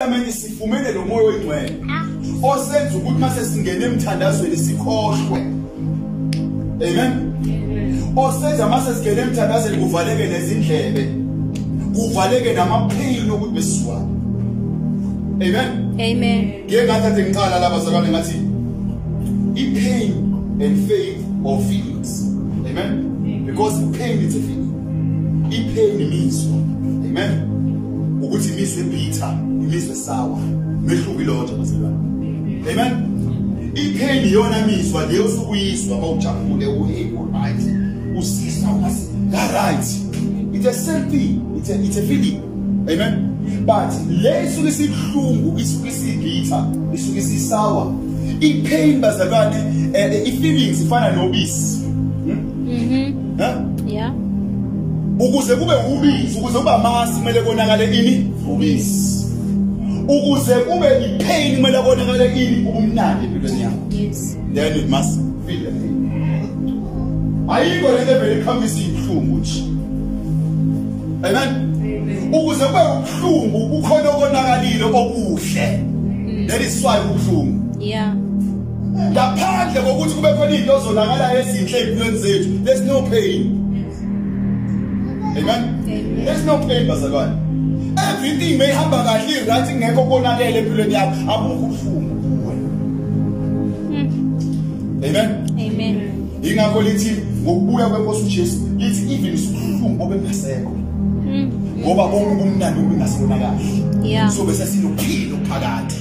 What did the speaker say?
Ameni sifumene lo moya oyingcwele osenza ukuthi mase singena emthandazweni sikhohlwe. Amen. Osenza mase singena emthandazweni kuvaleke nezindlebe. Kuvaleke namaphini ukuthi besizwa. Amen. Amen. Ngeke ngathathe ngiqala laba zakwane ngathi i pain and faith or feelings. Amen. Amen. Because pain is a feeling. ipheni imizwa amen ukuthi imizwa ebitha imizwa esawa mehluko ilodwa bazalwane amen ipheni iyona mizwa leyo sukuyizwa bawujabule uyiwuright usisa ungathi right it's a same thing it's a, it's a feeling amen but le isuke isibuhlungu isuke isibitha isuke isisawa ipain bazalwane eh, eh, i-feelings ifana nobisi Mhm. Ha? Yeah. Ukuze kube ubisi, ukuze kube amasi kumele konakale ini? Ubisi. Ukuze kube ipain kumele konakale ini? Ubumnandi empilweni yakho. Yes. Then it must feel the pain. Ayikho lento evele ikhambisa ibuhlungu nje. Amen. Ukuze kube ubuhlungu kukhona okonakalile okuhle. That is why ubuhlungu. Yeah. ngaphandle kokuthi kube khona izinto ozonakala ezinhle empilweni zethu there's no pain amen there's no pain bazalwane everything may hamba kahle right ngekho konakele empilweni yakho abukho ubuhlungu kuwe hmm. amen amen ingakho lithi ngokubuya kwenkosi uJesu lithi even usuhlungu obengasekho hmm. ngoba bonke ubumnandi obungasibona kahle so bese sinophilo phakathi